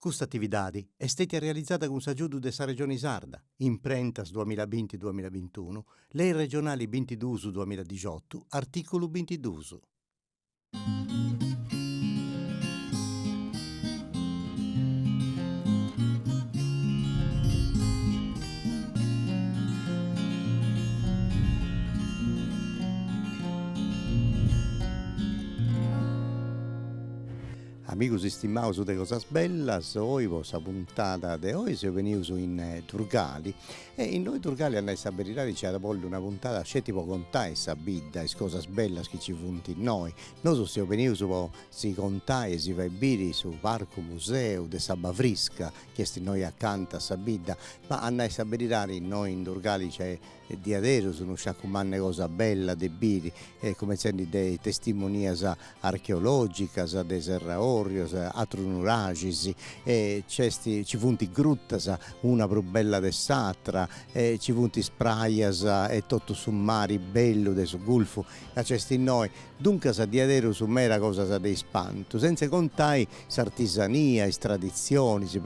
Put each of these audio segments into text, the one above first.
Custa atividadi est stètia realizada cun s'agiudu de sa Regioni Sarda, imprentas duamilla binti duamilla bintunu, Lei Regionali bintiduus duamilla dixotu, artìculu bintiduus. Amigus istimaus de Cosas Bellas, oi po sa puntada de oi seus benius in Turgali e innoi Turgali a nai sa beridadi nci iat bolli una puntada sceti po contai sa bidda, is cosas bellas chi nci funt innoi. Nosu seus benius po si contai e si fai biri su parcu museu de S'Abba Frisca chi est innoi acanta a sa bidda, ma a nai sa beridadi innoi in Turgali nc'est diaderus unu sciacu mannu de cosa bella de biri, cumentzendi de is testimonias archeologicas de Serra Orrios, atrus nuraxis, e nc'est, nci funt grutas una prus bella de s'atra, e nci funt is prajas e totu su mari bellu de su gulfu ca nc'est innoi, duncas diaderus meda cosas de ispantu, sentza contai s'artisania, is traditzionis,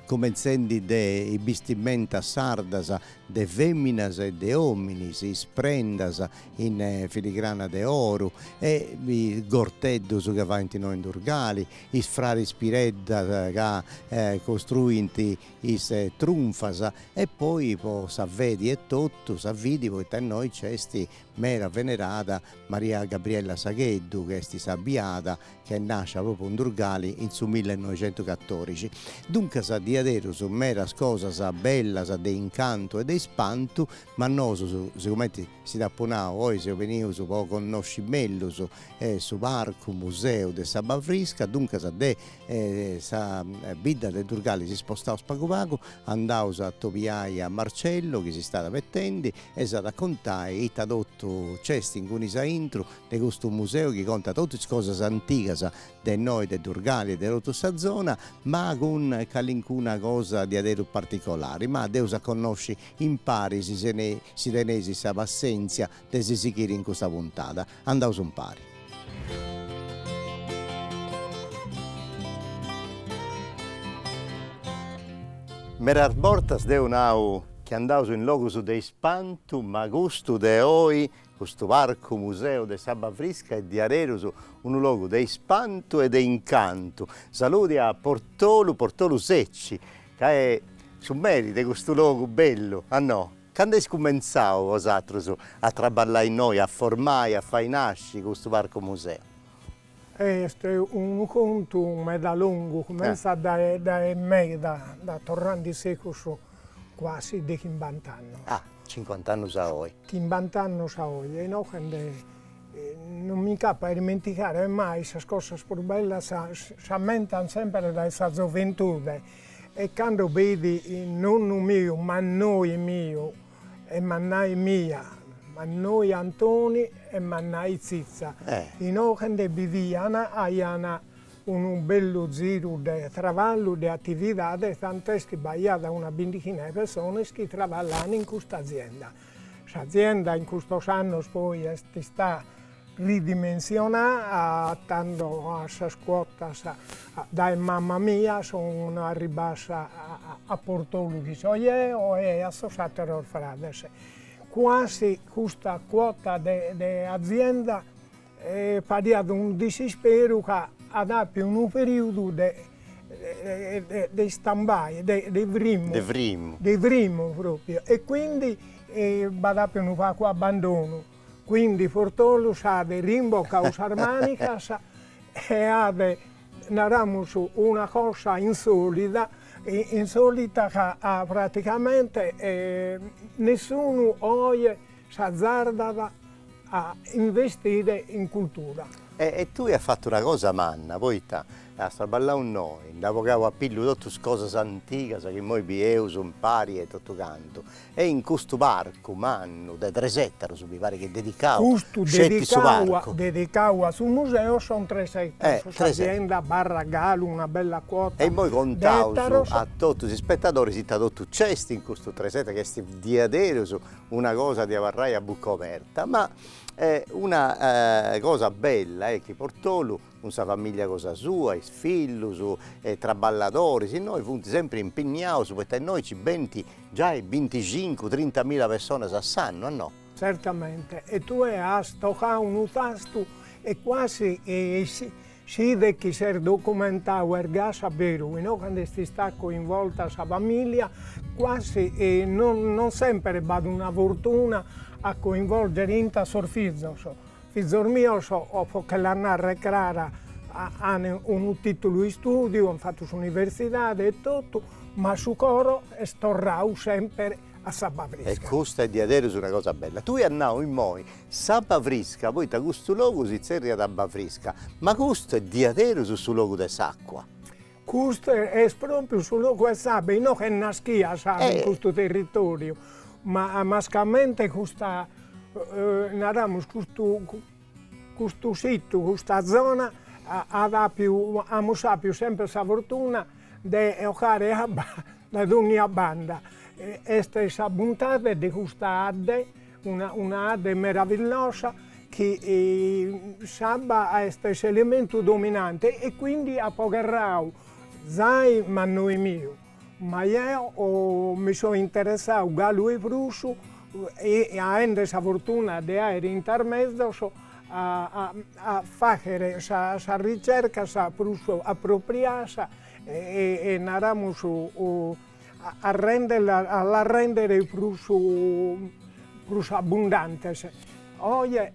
cumentzendi de is bistimentas sardas de fèminas e de òminis, is prendas in filigrana de oru e is gorteddus ca faint innoi in Durgali, is fraris Pireddas ca costruint is trunfas e poi po sa fedi etotu, sa fidi poita innoi nc'est meda venerada Maria Gabriella Sagheddu chi est sa biada ch'est nàscia pròpriu in Durgali in su millenoixentucatorixi. Duncas diaderus meras cosas bellas de incantu e de ispantu, ma nosu, sigumenti si dd'apu nau, oi seus benius po connosci mellus su parcu museu de s'Abba Frisca, duncas de sa bidda de Durgali si spostaus pagu pagu, andaus a atobiai a Marcello chi si stat abetendi e s'at a contai ita totu nc'est incunis a intru de custu museu chi contat totu is cosas antigas de innoi de Durgali e de totu sa zona, ma cun calincuna cosa diaderus particolari, ma dd'eus a connosci impari si teneis sa passèntzia de si sighiri in custa puntada. Andaus impari. Meras bortas deu nau chi andaus in logus de ispantu, ma custu de oi Custu parcu museu de S'Abba Frisca est diaderus unu logu de ispantu e de incantu. Saludi a Portolu, Portolu Secci, ca est su meri de custu logu bellu, a no? Candu eis cumentzau bosatrus a traballai innoi, a formai, a fai nasci custu parcu museu? Est unu contu meda longu, cumenzat dae dae meda, da torrande in secus quasi de chimbant'annus. Ah, cincuant'annus a oi. Chimbant'annus a oi, e inoghende non mi nc'apo a dimenticare mai sas cosas prus bellas s'ammentant semper dae sa zoventude e cando beidi nonnu miu mannoi miu E mannai mia, mannoi Antoni e mannai Zitza, inoghendhe biviana, aiana unu bellu ziru de traballu de attividade tant'est chi b'aiada una bindighina de persones chi traballana in custa azienda. S'azienda in custos annos poi est istada Ridimensionà tando a sas cuotas dae mama mia son arribbadas a Portolu chi so ieo e a sos atteros frades. Cuasi custa cuota de de azienda fadiat unu disisperu ca at appiu unu periudu de de stand-by, de de frimmu. De frimmu. De frimmu propriu e quindi b'at appiu unu pagu abbandonu Quindi Portolu s'at rimbocau sas manicas e at, naramus, una cosa insolida, insolita ca praticamente nessunu oi s'azzardat a investire in cultura. E tui as fatu una cosa manna, poita as traballau innoi, nd'as bogau a pillu totus is cosas antigas chi immoi bieus impari e totu cantu E in custu parcu mannu de tres ettaros mi paret chi est dedicadu Custu sceti su dedicadu a parcu. dedicadu a su museu son tres ettaros, Eh, tres ettaros. s'azienda abarrat galu una bella cuota de ettaros. E immoi contaus a totus is ispettadoris ita totu nc'est in custu tres ettaros chi est diaderus una cosa de abarrai a bucca oberta, ma una cosa bella est chi Portolu cun sa famìllia cosa sua, is fillus e traballadoris, innoi funt sempri impinniaus poita innoi nci benint giai binticincu, trintamila personas a s'annu, a no? Certamente, e tue as tocau unu tastu e cuasi si bidet chi ses documentau est gasi a beru, no? Cando est istada coinvolta sa famìllia, cuasi non semper b'at una fortuna a coinvolgere inta sos fizos, Fizos mios, o po che la narrer crara, an unu titulu de istudiu, an fatu s'universidade e totu, ma su coro est torrau semper a s'abba frisca. E custa est diaderus una cosa bella. Tui as nau immoi, s'abba frisca, poita custu logu si tzerriat abba frisca, ma custu est diaderus su logu de s'acua. Custu est pròpiu su logu 'e s'abba inoghe est naschia s'abba in custu territòriu, ma mascamente custa naramus custu custu situ, custa zona at apiu amus apiu sempre sa fortuna de 'ogare abba dae dònnia banda, est sa buntade de custa 'adde Una una adde meravillosa chi s'abba est s'elementu dominante e quindi at gherrau zai mannoi miu, ma jeo mi so interessau galu 'e prus e aende sa fortuna de aere intas mezos a a a fagher sas ricercas prus appropriadas e e naramus a rèndere, a las rèndere prus prus abbundantes. Oje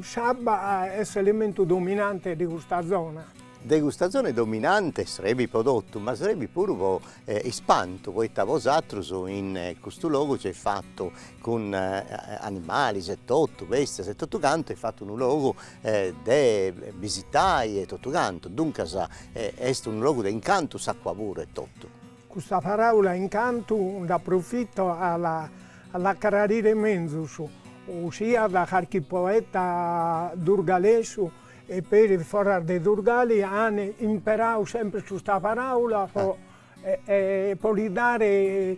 s'abba est s'elementu dominante de custa zona. De custa zona dominante, e serbit pro totu, ma serbit puru pro ispantu, poita bosatrus in custu logu eis fatu cun animales e totu, bèstias e totu cantu, eis fatu unu logu de bisitai e totu cantu, duncas est unu logu de incantu s'acua puru e totu. Custa paraula incantu nd'aprofito a la a la crarire menzus, siat de carchi poeta durgalesu e peri foras de Durgali an imperau sempre custa paraula po po li dare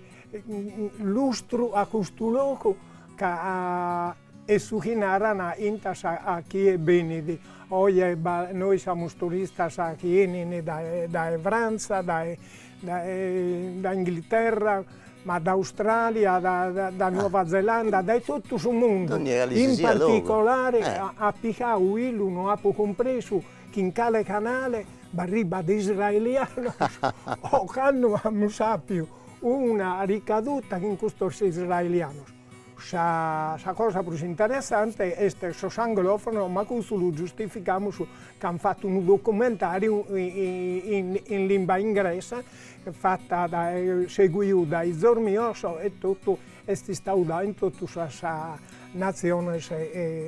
lustru a custu logu ca E su chi naran intas a chie benit, oje bi nois amus turistas chi 'enin dae Frantza, dae dae Inghilterra, ma da Australia, da Nuova Zelanda, dae totu su mundu, in particolare a pigau illu no apu cumpresu chin cale canale b'arribat israelianos ocannu amus apiu una ricaduta cun custos israelianos. Sa cosa prus interessante est sos anglofonos, ma custu lu giustificamus ca an fatu unu documentariu in limba ingresa, fatu dae seguiu dae izos mios e totu est istau dau in totu sas natziones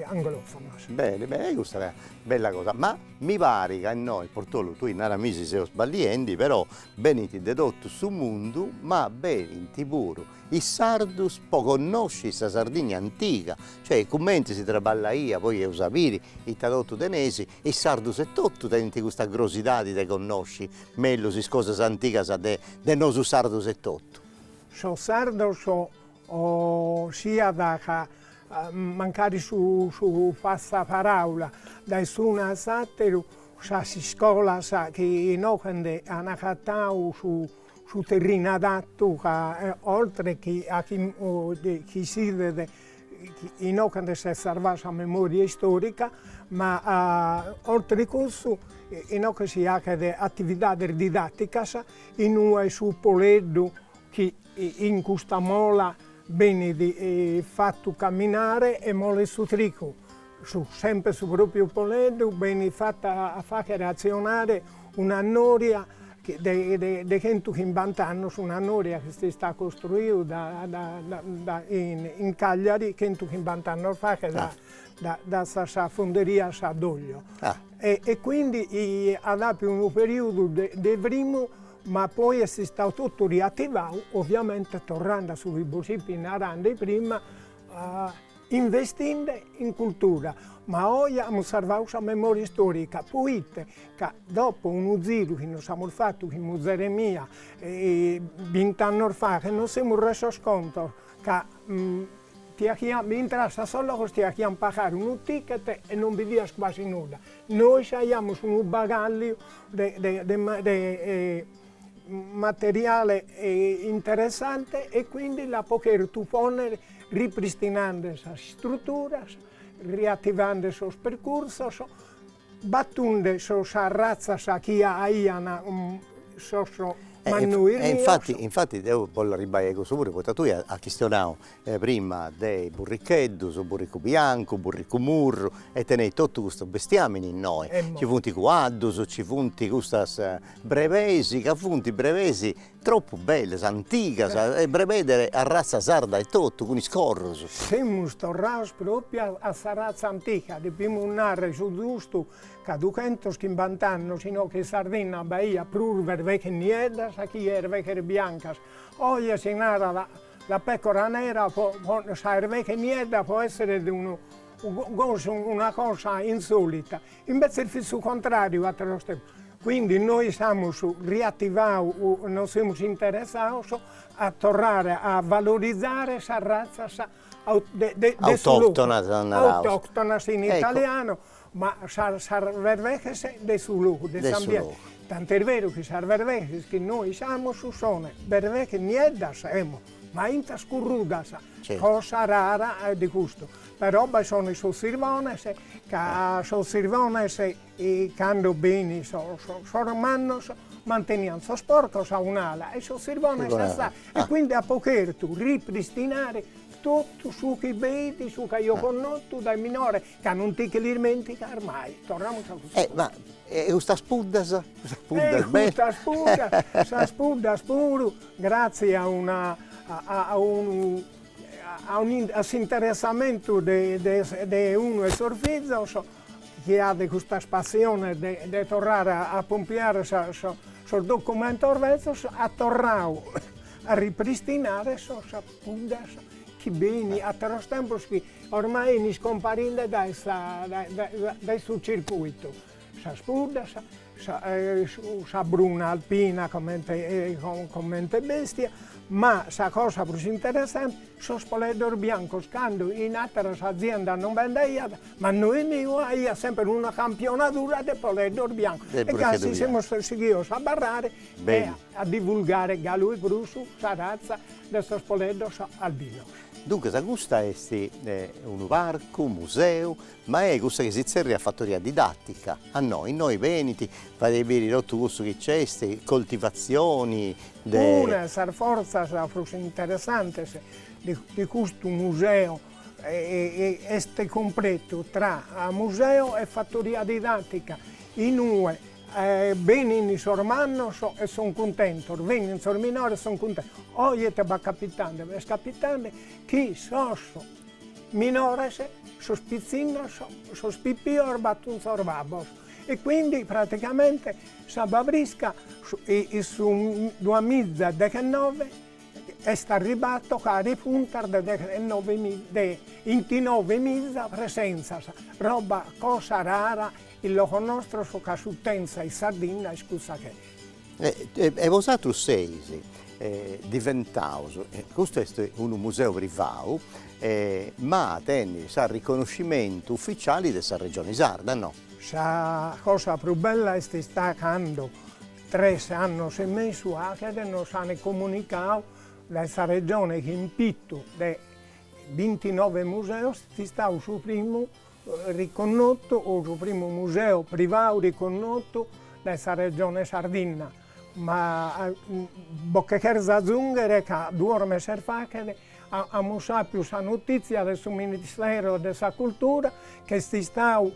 anglofonas. Bene bene, e custa est una bella cosa, ma mi parit ca innoi, Portolu, tui naramì si seus sballiendi, però benint de totu su mundu, ma benint puru Is sardus po connosci sa Sardigna antiga, cioè cumenti si traballaiat poi eus a biri ita totu tenesi, is sardus etotu tenint custa grosidadi de connosci mellus is cosas antigas de de nosu sardus etotu. Sos sardos si at ca mancari su su passaparaula dae s'unu a s'ateru sas iscolas chi inoghe ndhe an acatau su su terrinu adattu ca oltre chi a chi si videt inoghe si sarvat sa memoria istorica, ma oltre cussu inoghe si aghet atividades didatticas in ue b'est su Poleddu chi in custa mola benit fattu camminare e molet su trigu Su semper su propriu Poleddu benit fata a fagher atzionare una noria de chentu chimbanta annos, una noria chi est istada costruida in Cagliari chentu chimbanta annos faghet dae sas funderias Doglio e quindi at apiu unu periudu de frimu ma poi est istau totu riativau, ovviamente torrende a su chi bos fipi narande prima investinde in cultura, ma oi amus sarvau sa memòria istòrica, poita ca dopo unu ziru chi nos amus fatu chin muzere mia bint'annos faghet nos semus resos contu ca ti achian, intraias a sos logos ti achian pagare unu ticket e non bidias quasi nudda, nois aiamus unu bagalliu de materiale interessante e quindi l'apo chertu ponner ripristinande sas istruturas, riativande sos percursos, battunde sas razzas chi aian sos mannois nostros. E infatti, infatti deo bollu arribbai a cussu puru, poita tui as chistionau e prima de is burricheddus, burricu biancu, burricu murru e teneis totu custu bestiamini innoi, ci funt cuaddus, ci funt custas brebeis ca funt brebeis tropu bellas, antigas e brebeis de arratza sarda etotu cun is corrus. Semus torraus propriu a a sa ratza antica, depimus narrer su giustu ca dughentus chimbanta annos inoghe in Sardinna b'aiat prus erbeches nieddas chi erbeghes biancas, oje si narat La pecora nera sa erveche niedda po essere gosi una cosa insolita, imbetzes fit su contrariu atteros tempos, quindi nois amus riattivau u nos semus interessados a torrare a valorizare sas razzas de de de su logu, autoctonas in italiano Ma sas vervexes de su logu de s'ambiente, tant'est beru chi sas vervexes chi nois amus son vervexes nieddas emo, ma intas corrudas, cosa rara de custu, però bi sono sos sirbones, ca sos sirbones cando bein sos sos mannos mantenian sos porcos a un'ala e sos sirbones a s'ala e quindi apo chertu ripristinare totu su chi b'eit, su chi aio connotu dae minore Ca non ti che l'ismenticas mai. Torramus a custa. Eh ma e custas puddas? Custas puddas belle. E custas puddas, sas puddas puru gratzias a una a unu a unu a s'interessamentu de de de unu 'e sos fizos chi at custas passiones de de torrare a a pompiare sa sos documentos bezzos at torradu a ripristinare sos Puddas chi bein ateros tempos chi ormai bein iscomparinde dae sa dae su circuitu, sas puddas, sa sa bruna alpina comente comente bestia, ma sa cosa prus interessante sos poleddos biancos cando in ateras aziendas non bi nd'aiat, mannoi meu aiat semper una campionadura de poleddos biancos e gasi semus sighidos a abarrare e A divulgare galu e prus sa ratza de sos poleddos albinos. Duncas custa est unu parcu, museu, ma est cussa chi si tzerriat fattoria didattica, no, innoi benint, fadeis biri totu cussu chi nc'est, coltivazioni de. Una 'e sas forzas prus interessantes de custu museu est compretu tra museu e fattoria didattica, in ue Benint sos mannos e son cuntentos, benint sos minores e son cuntentos. Oi ite b'at capitande? B'est capitande chi sos minores, sos pitzinnos, sos pipios batun sos babbos e quindi praticamente S'Abba Frisca in su duamiza dexinove est arribada a tocare puntas de dexinove de 'intinove miza presenzas, roba cosa rara In logos nostros ca s'utenza in Sardinna est cussa ch'est. E bosatrus seis diventaus, custu est unu museu privau, ma tenit s'arriconoscimentu ufficiali de sa Regioni Sarda, no? Sa cosa prus bella est istada cando, tres annos e mesu aghet, nos ant comunicau dae sa Regioni chi in pitu de bintinove museus est istadu su primu riconnotu, su primu museu privau riconnotu dae sa Regione Sardinna, ma bos che cherzo azunghere ca duos meses faghet amus apiu sa notizia de su Ministero de sa Cultura ch'est istau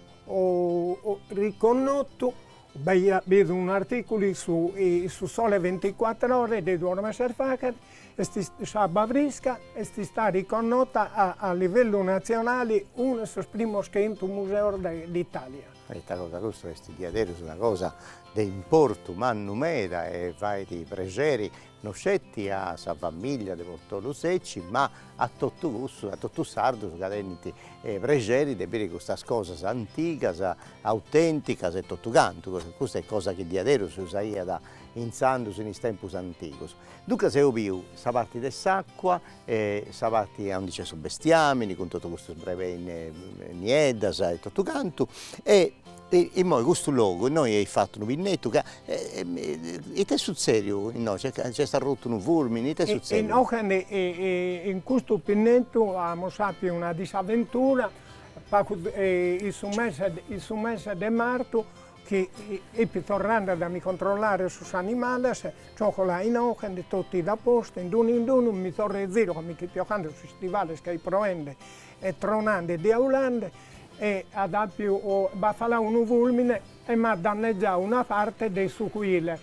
riconnotu B'aiat bidu un'artìculu in su in su Sole 24 Ore de duos meses faghet, e S'Abba Frisca est istada riconnota a a livellu natzionali unu 'e sos primos chentu museos de d'Itàlia. Ita cosa, custu est diaderus una cosa de importu mannu meda e fait prexeri no sceti a sa famìllia de Portolu Secci, ma a totu cussus, a totu is sardus ca tenint prexeri de biri custas cosas antigas, autènticas e totu cantu, custa est cosa chi diaderus si usaiat intzandus in is tempus antigus. Duncas eus biu sa parti de s'acua E sa parti aundi c'est su bestiamini cun totu custas brebeis nieddas e totu cantu e immoi custu logu innoi eis fattu unu pinnettu ca ite est suzzeriu innoi c'est arrutu unu furmini ite est suzzeriu. Inoghe in custu pinnettu amus appiu una disaventura pagu in su mese de martu Chi ipo torrande dae mi controllare sos animales, gioco la inochende totu it a postu, in d'unu in d'unu mi torro e ziru comente ipo ocande sos istivales ch'it proende e tronande e diaulande e at apiu o b'at falau unu fulmine e m'at dannegiau una parte de su cuile,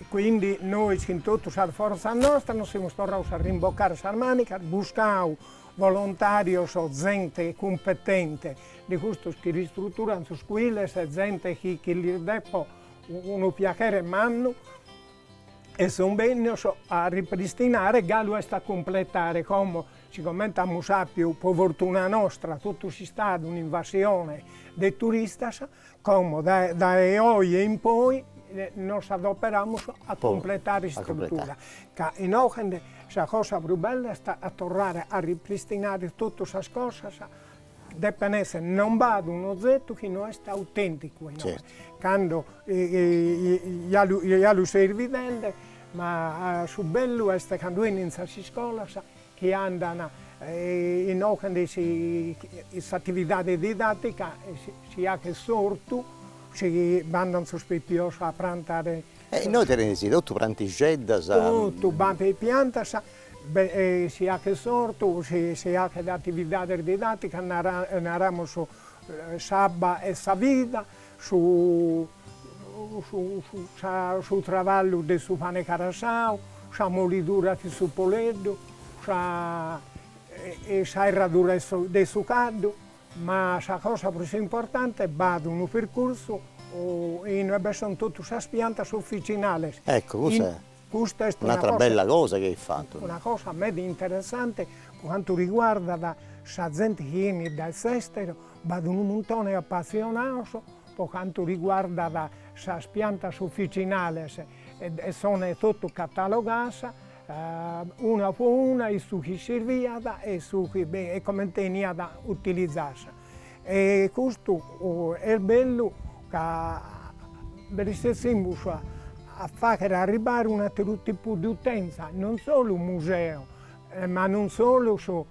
quindi nois chin totu sas forzas nostras nos semus torraus a rimboccare sas manicas, buscau volontarios, zente cumpetente de custos chi ristruturan sos cuiles e zente chi chi lis depo unu piachere mannu e son bennios a ripristinare galu est a cumpletare como sicomente amus apiu po fortuna nostra totu s'istadu un'invasione de turistas como dae dae oje in poi nos adoperamus a cumpletare s'istrutura ca inoghe sa cosa prus bella est a torrare a ripristinare totu sas cosas Depen esser non b'at un'ozetu chi no est autenticu a inoghe. Cando ja lu seis bidende, ma su bellu est cando enin sas iscolas chi andan inoghende s'atividade didattica si haghet s'ortu, si bandan sos pipios a prantare. E innoi teneis totu prantixeddas. Totu b'ant piantas si hachet s'ortu, si hachet atividades didàticas, naramus s'abba est sa vida, su su traballu de su pane carassau, sa molidura de su poleddu, sa sa 'erradura de su caddu, ma sa cosa prus importante b'at unu percursu inue be son totu sas piantas officinales. Ecco custa Custa est un'atra bella cosa chi ait fatu. Una cosa meda interessante po cantu riguardat sa zente chi 'enit dae s'esteru, b'at unu muntone 'e appassionados po cantu riguardat sas piantas officinales e son totu catalogadas una po una in su chi sirviat e su chi e comente 'eniat utilizada. E custu est bellu ca bi resessimus a fagher arribbare un'atteru tipu de utenza, non solu museo, ma non solu su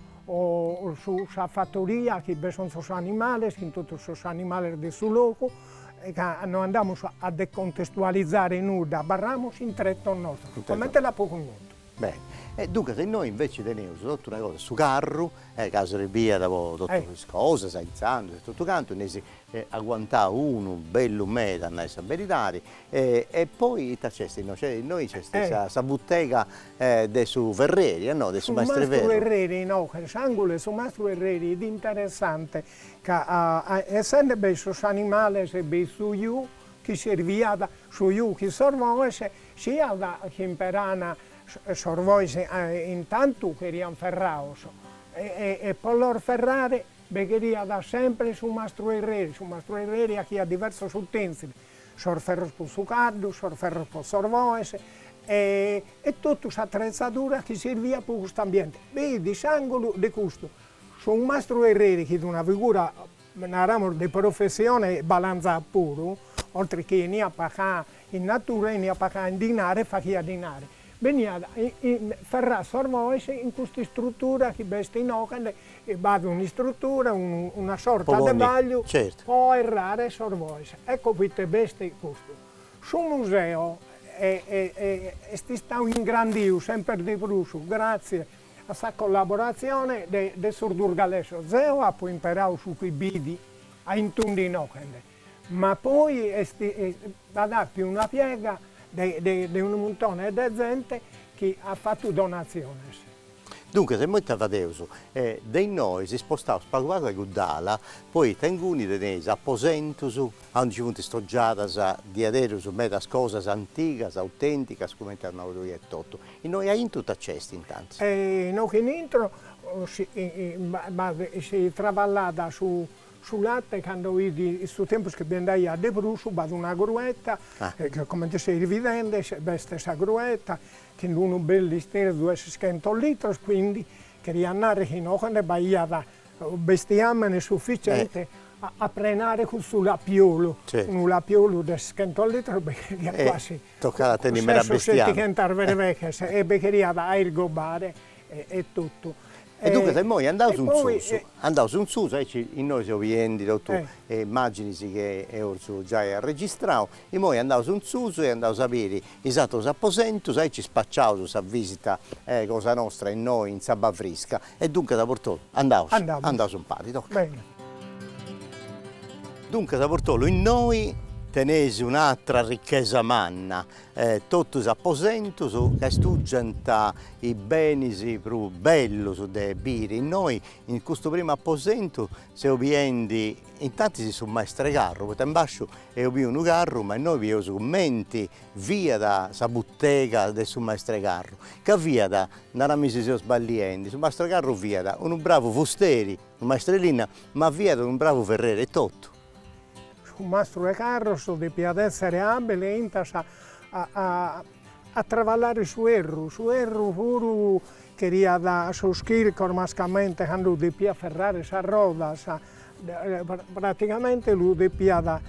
sa fattoria chi bi sunt sos animales, chin totu sos animales de su logu, ca no andamus a decontestualizare nudda, abarramus in trettos nostros, comente l'apo connotu Beni, e duncas innoi inveci teneus totu una cosa, su carru, e ca serviat po totus is cosas, a intzandus e totu cantu, nd'eis aguantau unu bellu meda a nai sa beridadi, e poi ita nc'est innoi, nc'est innoi nc'est sa butega de su ferreri, no, de su maestru 'e ferru. Su mastru ferreri, no, s'angulu 'e su mastru ferreri est interessante ca essende b'est su s'animali, b'est su ju, chi sirviat su ju chi sos boes siat chi imperan sos boes intantu cherian ferrados e po los ferrare bi cheriat sempre su mastru 'erreri, su mastru 'erreri 'achiat diversos utensili, sos ferros po su caddu, sos ferros po sos boes e totu s'atrezadura chi sirviat po cust'ambiente, bi fit s'angulu de custu, su mastru 'erreri chi fit una figura Naramos de professione balanza puru, oltre chi 'eniat pagau in natura, 'eniat pagau in dinare, faghiat dinare. Beniat ferrau sos bois in custa istrutura chi b'est inoghende, b'at un'istrutura, una sorta de bagliu po 'errare sos bois. Ecco proite b'est custu. Su museo est istau ingrandiu semper de prus gratzias A sa collaboratzione de sos durgalesos zeo apo imperadu su chi bi fit a intundu innochende, ma poi b'at appiu una piega de unu muntone de zente chi at fatu donatziones. Duncas immoi ita fadeus? De innoi s'ispostaus pagu pagu a cudd'ala, poita inguni teneis aposentus a undi nci funt istogiadas diaderus medas cosas antigas, autenticas, cumenti as nau tui etotu. Innoi aintru ita nc'est intantis? Inoghe in intro si b'at si traballat su late cando in su tempus chi bi nd'aiat de prus b'at una grueta chi comente seis bidende b'est sa grueta chi in unu bellu isterzu de seschentos litros quindi cheriat narrer chi inoghe nde b'aiat bestiamene sufficiente a prenare cussu lapiolu, unu lapiolu de seschentos litros bi cheriat quasi Tocat a tenni meda bestiàmini. Ses o settighentas verveches e bi cheriat a irgobare e totu. E duncas e immoi andaus in susu, andaus in susu, aici innoi seu biendi totu immaginis chi eus giai arregistrau, immoi andaus in susu e andaus a biri is atrus aposentus, aici spaciaus sa visita cosa nostra innoi in S'Abba Frisca, E duncas Portolu, andaus. Andamus. Andaus impari, toca. Bene. Duncas Portolu, innoi teneis un'atra ricchesa manna, totu is aposentus ca istugiant is benis prus bellus de biri, innoi in custu primu aposentu seu biendi intantis su maestru 'e carru, poita in basciu eus biu unu carru, ma innoi bieus cumenti fiat sa butega de su maestru 'e carru, ca fiat Narami si seo sballiendi, su mastru 'e carru fiat unu bravu fusteri, unu maestru 'e linna, ma fiat unu bravu ferreri etotu. Su mastru 'e carros depiat èssere àbile intas a travallare su 'erru, su 'erru puru cheriat sos chircos, mascamente cando depiat ferrare sas rodas, Praticamente lu depiat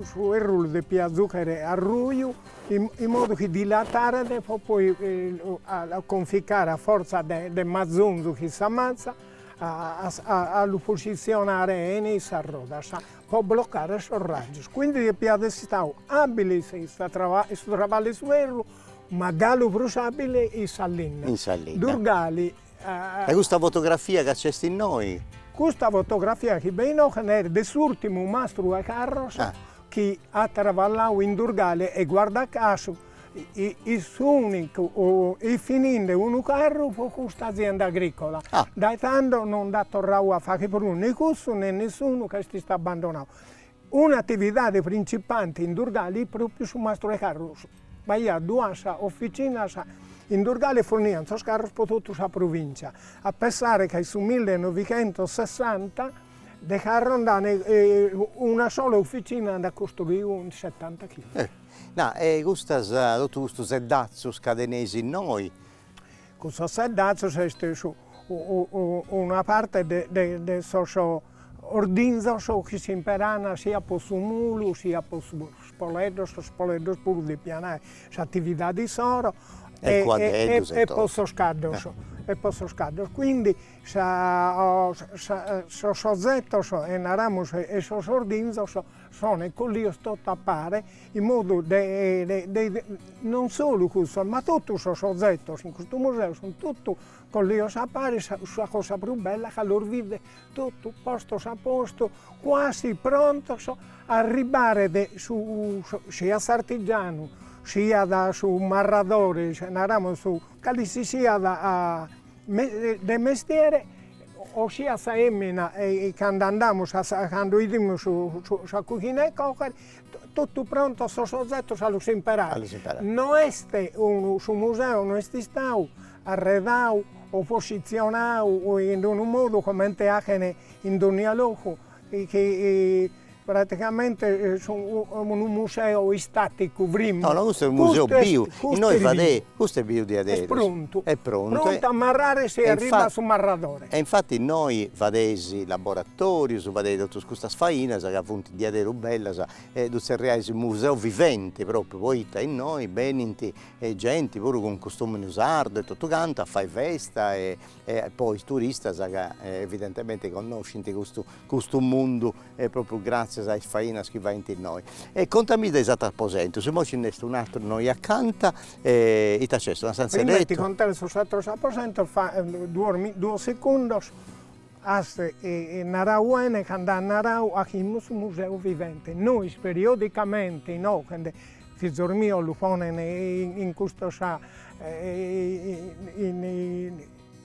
su 'erru lu depiat zùchere a ruju in modu chi dilataret po poi conficare a fortza de mazonzu ch'est sa matza a lu posizionare 'ene in sas rodas po blocare sos rajos, quindi depiat essi istadu abile in sa in su traballu 'e su 'erru ma galu prus abile in sa linna, in sa linna, Durgali E custa fotografia ca c'est innoi. Custa fotografia chi b'est inoghe est de s'ùrtimu mastru 'e carros chi at traballau in Durgale e guarda casu est inicue fininde unu carru pro custa azienda agricola. Dae tando non nd'at torrau a fagher prus ne cussu ne nessunu ch'est istadu abandonau Una atividade printzipante in Durgali est pròpiu su mastru 'e carros. B'aiat duas ofitzinas in Durgali e forniant sos carros pro totu sa provìntzia, a pensare ca in su millenovighentosessanta de carros nd'an una sola ofitzina nd'at costruidu in setantachimbe. Nà, e custas, totu custos seddazzos ca teneis innoi, Cussos seddazzos est una parte de de de sos ordinzos chi s'imperan siat po su mulu, siat po sos poleddos, sos poleddos puru depian àer s'atividade issoro e po sos caddos e po sos caddos, quindi sa sos ozettos e naramus e sos ordinzos Son collios totu a pare, in modu de de non solu cussos ma totu sos ozetos in custu museu sun totu collios a pare, sa cosa prus bella ca los bidet totu postos a postu, cuasi prontos a arribbare de su siat s'artigianu, siat su marradore, naramus su, calisisiat de mestiere o siat sa 'emina e cando andamus a sa cando 'idimus su sa cughina 'e coghere totu prontos sos ozetos a los imperare, a los imperare, no est unu su museu no est istau arredau o positzionau in unu modu comente 'aghen in dònnia logu chi Praticamente est unu museu istaticu frimmu. No no custu est museu biu, innoi fadei, custu est biu de a beru. Est prontu. Est prontu. Prontu a marrare si arribat su marradore. E infati innoi fadeis laboratorius, fadeis totus custas fainas ca funt diaderus bellas e ddu zerriais museu viventi propriu poita innoi benint genti puru cun customini sardu e totu cantu a fai festa e e po is turistas ca evidentemente connoscint custu custu mundu e propriu gratzias a is fainas chi faint innoi. E contami de is aterus aposentus, imoi nci nd'est un'ateru innoi acanta e ita nc'est, una stantzia 'e lettu? Prima 'e ti contare sos ateros aposentos duos segundos, as narau 'ene cando as narau chi est unu museu vivente nois periodicamente inoghe Fizos mios lu ponen in custa sa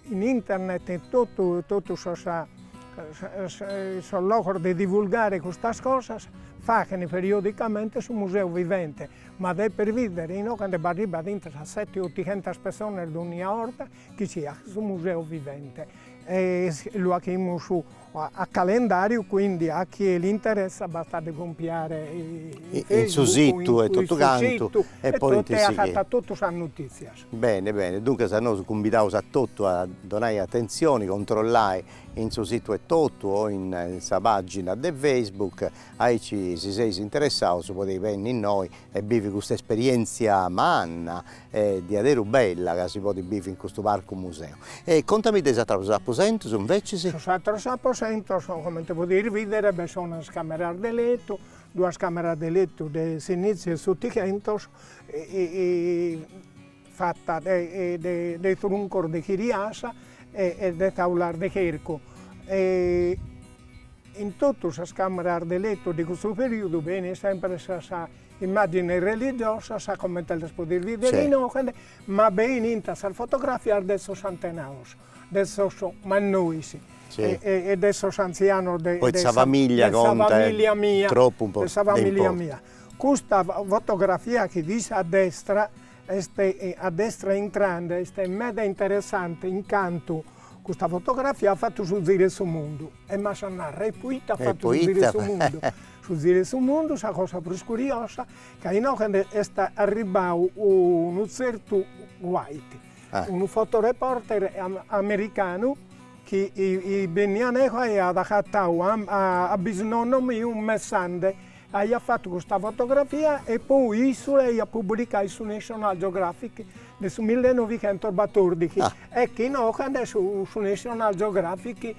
in internet in totu totu sos sos logos de divulgare custas cosas, faghen periodicamente su museu vivente, ma depes bìdere inoghe cando b'arribat intro a sete ottighentas personas dogna 'orta chi ch'at su museu vivente e lu 'aghimus A calendàriu quindi a chie l'interessa bastat de compiare in su situ e totu cantu e poi e agatat totu sas notìtzias. Bene bene, duncas nosu cumbidaus a totu a donai atentzioni, controllai in su situ e totu o in sa pàgina de Facebook, aici si seis interessaus podei benni innoi e bivi custa esperièntzia manna E diaderu bella ca si podit bivi in custu parcu museu. E contami de is atrus aposentus invecis. Sos atrus aposentus comente podis bidere b'est una camera de letu, duas cameras de letu de s'iniziu 'e s'otichentos fatta de truncos de chiriasa e de taulas de chercu. In totu sas cameras de letu de custu periudu benit sempre sa Immàgines religiosas, comente las podis bìdere inoche, ma benint sas fotografias de sos antenados, de sos mannois e de sos antzianos de sa famìllia mia, de sa famìllia mia. Custa fotografia chi fit a destra est, a destra intrande, est meda interessante in cantu custa fotografia at fatu su ziru 'e su mundu E m'as a narrer, e poita at fatu su ziru 'e su mundu? Su ziru 'e su mundu, sa cosa prus curiosa, ca inoghe nde est arribbau unu tzertu White, unu fotoreporter americanu chi benniat neho e at agatau a bisnonno miu messande, aiat fatu custa fotografia e poi issu l'aiat publicau in su National Geographic de su millenovighentos batòrdighi, ecche inoghe nd'est su National Geographic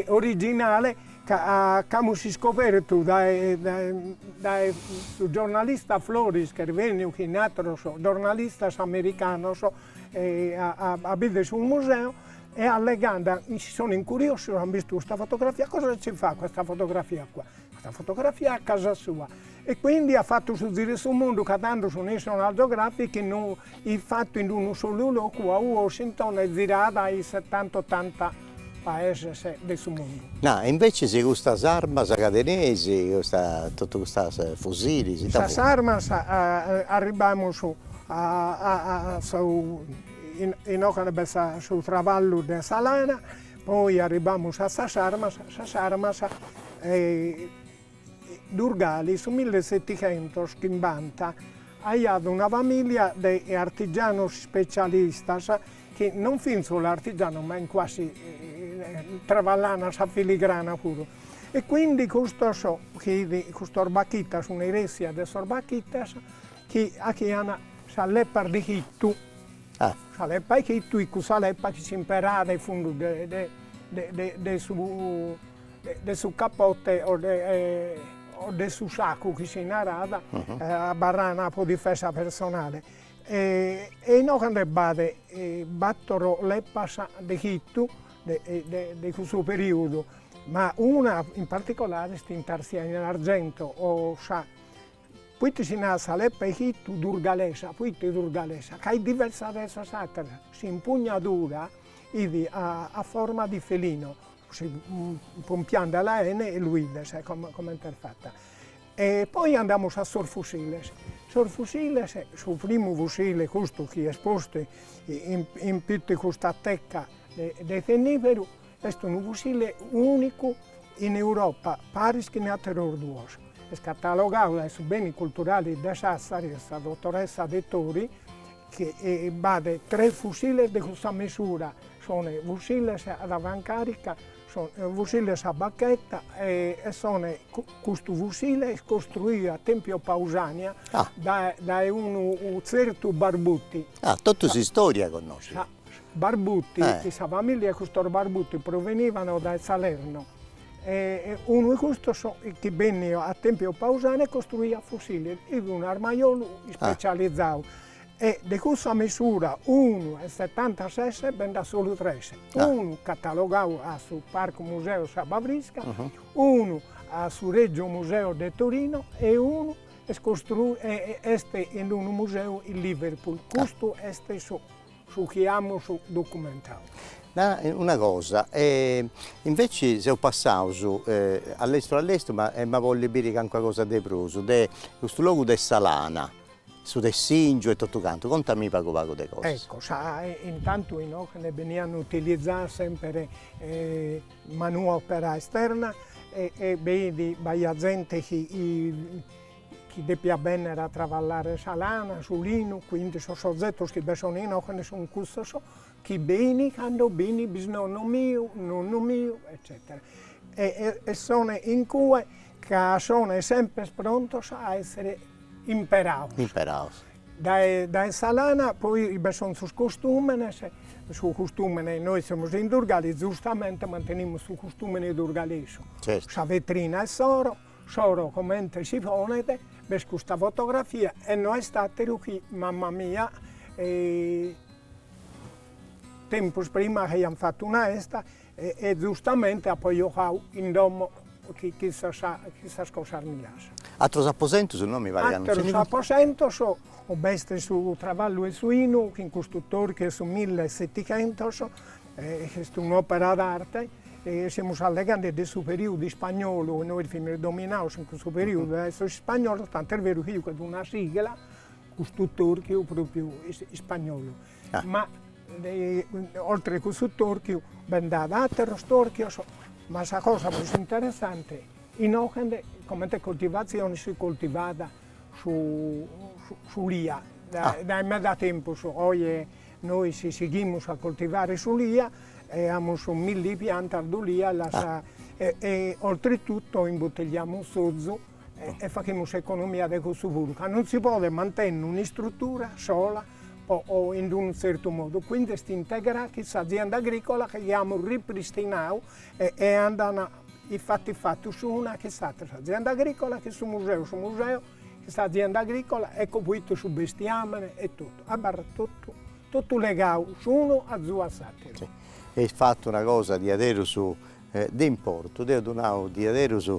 originale ca c'amus iscobertu dae dae dae su giornalista Floris ch'est benniu chin ateros giornalistas americanos a bider su museu e allegande si son incuriosios an bistu custa fotografia cosa ci fa questa fotografia qua, questa fotografia è a casa sua E quindi at fattu su ziru 'e su mundu ca tando su National Geographic fit fattu in unu solu locu a Washington e zirada in settanta ottanta paeses de su mundu. Nà, e invecis custas armas ca teneis, custa, totu custas fusilis, ita funt? Sas armas, arribbamus a su, inoche b'est su traballu de sa lana, poi arribbamus a sas armas, sas armas Durgali, su mille seticentos chimbanta, aiat una famìlia de artigianos specialistas, chi non fin solu artigianos ma in quasi traballana sa filigrana puru, e quindi custos chi custos Bachitas, una eressia de sos Bachitas, chi achian sas leppas de chittu, sa leppa 'e chittu, est cussa leppa chi s'imperàt in fundu de de de su de su capote o de o de su saccu chi si narat, abarrana pro difesa personale, e inoghe cando b'at battoro leppas de chittu de de cussu periudu, ma una in particolare est intarsiada in argento o sa, proite si narat sa leppa 'e chittu durgalesa, proite durgalesa, ca est diversa de sas atteras, s'impugnadura 'idi a forma di felino, si pompiandela 'ene e lu 'ides comente est fata, e poi andamus a sos fusiles, sos fusiles, su primu fusile custu chi est postu in pittu 'e custa teca de tinniberu, est unu fusile unicu in Europa, paris chin ateros duos, est catalogadu dae su beni culturali de Sassari, e sa dottoressa Dettori chi b'at tres fusiles de custa mesura, sunt fusiles ad avancàrica, sunt fusiles a bacheta e sunt, custu fusile est costruidu a Tempio Pausània dae dae unu tzertu Barbuti. Ah, totu s'istòria connoscis. Barbuti, sa familia 'e custos Barbuti provenivano dae Salerno e unu 'e custos ch'est benniu a Tempio Pausània e costruiat fusiles, fit un armajolu ispecializau e de cussa mesura unu e setantases bend'at solu tres, unu catalogau a su Parco Museo de S'Abba Frisca, unu a su Regio Museo de Torino e unu est est in unu museu in Liverpool, custu est su Su chi amus documentau. Na una cosa, e inveci seus passaus a lestru a lestru ma em'a bolli biri calincuna cosa de prus de custu logu de sa lana, su tessingiu e totu cantu, contami pagu pagu de cosas. Ecco sa intantu inoghe beniat utilizzà semper manuopera esterna e e beni b'aiat zente chi chi depiat bènnere a travallare sa lana, su linu, quindi sos ozetos chi bi sono inòchene sun custos, chi beni cando beni bisnonnu miu, nonnu miu eccetera e e son in cue ca son semper prontos a essere imperados. Imperados. Dae dae sa lana poi bi sono sos costumenes, su custumene, nois semus in Durgali, giustamente mantenimus su custumene durgalesu, sa vetrina 'e s'oro S'oro comente si ponet, b'est custa fotografia e no est àteru chi mama mia, tempus prima chi aiant fatu una festa e e zustamente apo jogadu in domo chin sas cosas mias. Atrus aposentus no, mi paret ca non nci fiant. Atrus aposentus, b'est su travallu 'e su 'inu chin custu torchiu 'e su millesetighentus Est un'òpera d'arte, semus allegande de su perìodu ispagnolu, nois fimus dominados in cussu perìodu dae sos ispagnolos, tant'est beru chi b'est una sigla, custu torchiu pròpriu ispagnolu. Ma oltre cussu torchiu bi nd'at àteros torchios, ma sa cosa prus interessante, inoghe comente coltivatzione si coltivat s'ulia, dae meda tempus, oje Nois sighimus a coltivare s'ulia e amus milli piantas d'ulia e oltretutto imbuttigliamus s'ozu e faghimus s'economia de cussu puru, ca non si podet mantenne un'istruttura sola o in d'unu zertu modu, quindi est integrada chin s'azienda agricola chi amus ripristinadu e andan in fatus s'una chin s'atera, s'azienda agricola chin su museu, su museu S'azienda agricola ecco fuitu su bestiamene e totu abarrat totu totu legau s'unu azu a s'ateru. Eis fatu una cosa diaderus de importu, deo ddu nau diaderus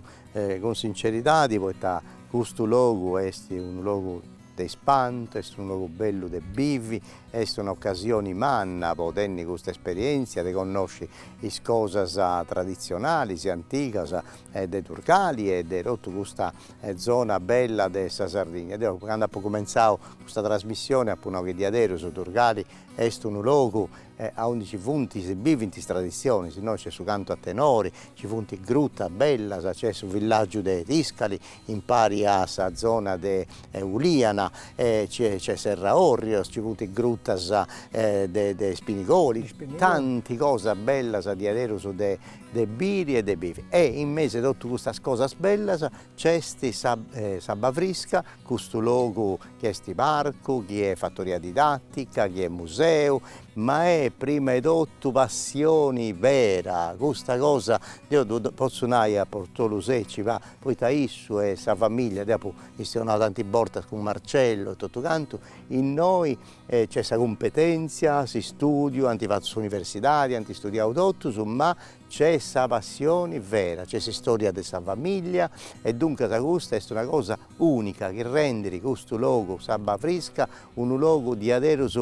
cun sinceridadi poita custu logu est unu logu de ispantu, est unu logu bellu de bivi, est una occasioni manna po tenni custa esperienzia de connosci is cosas tradizionalis e antigas de Durgali e de totu custa e zona bella de sa Sardigna. Deo cando apo cumentzadu custa trasmissione apo nau chi diaderus Durgali est unu logu aundi nci funt, si bivint is traditzionis, innoi nc'est su cantu a tenori, nci funt grutas bellas, nc'est su villàgiu de Tiscali impari a sa zona de Uliana e nc'est Serra Orrios, nci funt grutas de Ispinigoli, tanti cosas bellas diaderus de de biri e de bivi e in mesi 'e totu custas cosas bellas c'est S'Abba Frisca, custu logu chi est parcu, chi est fattoria didattica, chi est museu, ma est prima 'e totu passioni vera, custa cosa deo ddu pozzu nai a Portolu Secci poita issu e sa familia, deo apo chistionau tanti bortas cun Marcello e totu cantu, innoi E nc'est sa cumpetèntzia, s'istùdiu, ant fatu s'universidadi, ant istudiau totus, ma nc'est sa passioni vera, nc'est s'istòria de sa famìllia e duncas custa est una cosa ùnica chi rendit custu logu, s'Abba Frisca, unu logu diaderus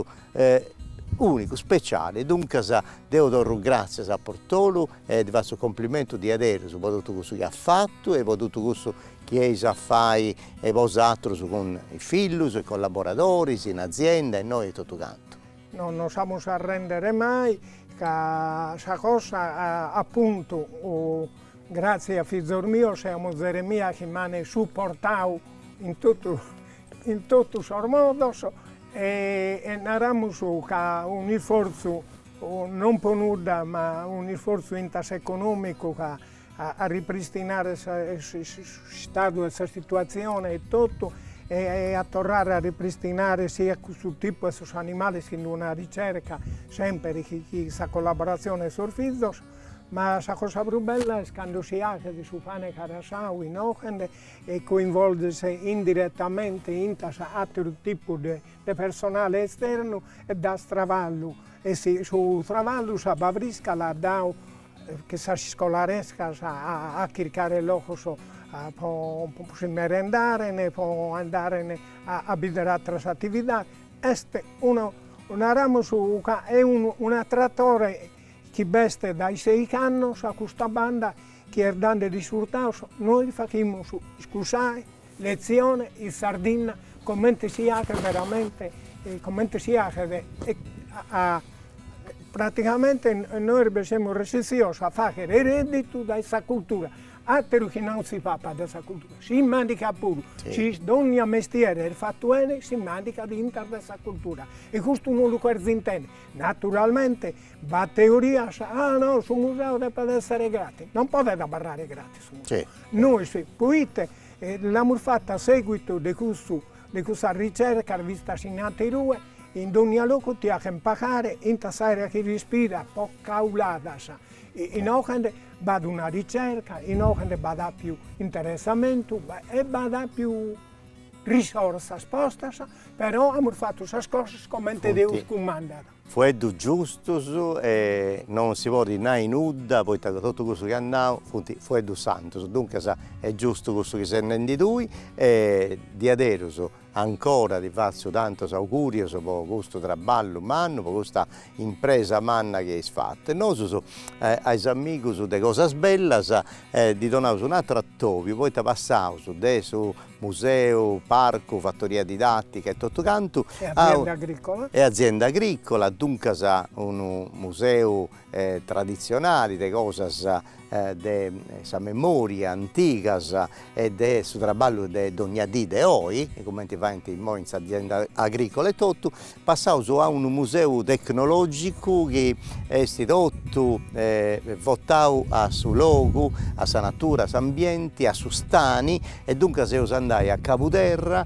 ùnicu, speciali. Duncas deu torru gràtzias a Portolu e ddi fatzu complimentu diaderus po totu cussu chi at fatu e po totu cussu chi eis a fai e bosatrus cun is fillus, is collaboradoris, in azienda innoi e totu cantu. Non nos amus a arrendere mai ca sa cosa apuntu gratzi a fizos mios e a muzere mia chi m'an suportau in totu in totu sos modos e naramus ca un'isfortzu non po nudda ma un'isfortzu intas economicu ca a ripristinare s'istadu 'e sa situatzione e totu e a torrare a ripristinare siat custu tipu 'e sos animales chin d'una ricerca semper chin sa collaboratzione 'e sos fizos, ma sa cosa prus bella est cando si aghet su pane carasau inoghende e coinvolges indiretamente intas atteru tipu de de personale esternu e das traballu e su traballu S'Abba Frisca l'at dadu che sas iscolarescas a chircare logos po si merendare e po andare a bider atteras attividades, est unu, naramus ca è unu un'attratore chi b'est dae sei annos a custa banda chi est dande risultados, nois faghimus iscusae Letzione in Sardinna comente si aghet veramente comente si aghet a pratigamente nois bi semus resissios a fagher redditu dae sa cultura, ateru chi non si papat dae sa cultura, si mandigat puru, si dogna mestieri est fatu 'ene si mandigat intas dae sa cultura e custu non lu cheren intender, naturalmente b'at teorias, ah no su museu depet esser gratis, non podet abarrare gratis Nois, poite l'amus fatu a seguitu de custu, de cussas ricercas bistas in aterue, in dogna locu ti achen pagare intas s'aera chi rispiras po cauladas, inoghende b'at una ricerca, inoghende b'at apiu interessamentu e b'at apiu risorsas postas, però amus fatu sas cosas comente Deus cumandat. Fueddus giustus e non si podit nai nudda poita ca totu cussu chi at nau funt fueddus santus, duncas est giustu cussu chi ses nendi tui e diaderus ancora ti fatzu tantus augurius po custu traballu mannu, po custa impresa manna chi eis fatu e nosus a is amigus de Cosas Bellas ddi donaus un'aturu atobiu poita passaus de su Museu, parcu, fattoria didattica e totu cantu. E azienda agricola. E azienda agricola, duncas unu museu tradizionali de cosas de sa memoria antigas e de su traballu de dogna dì de oi, cumenti faint immoi in s'azienda agricola e totu Passaus a unu museu tecnològicu chi est totu votau a su logu, a sa natura, a s'ambienti, a su stani e duncas eus a andai a Cabuderra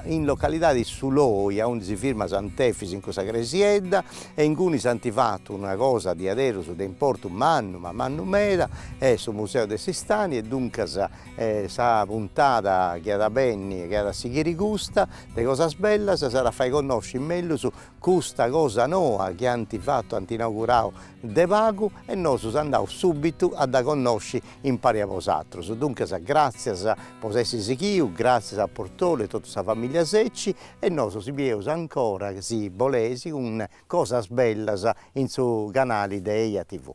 in localidadi Su Loi aundi si firma Sant'Efis in cussa cresiedda e ingunis ant fatu una cosa diaderus de importu mannu ma mannu meda est su museu de su stani e duncas e sa puntada chi at a benni e chi at a sighiri custa de cosas bellas s'at a fai connosci mellus custa cosa noa chi ant fattu ant inaugurau de pagu e nosu s'andaus subitu a dda connosci impari a bosatrus duncas gratzias po s'essi sighiu gratzias a Bartolu e totu sa familia Secci e nosu si bieus ancora si boleis cun cosas bellas in su canali de Eja TV.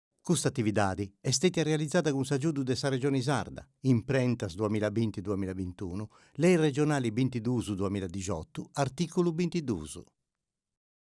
Custa atividadi est stètia realizada cun s'agiudu de sa Regioni Sarda, Imprentas duamilla binti duamilla bintunu, Lei Regionali bintiduus duamilla dixotu, artìculu bintiduus.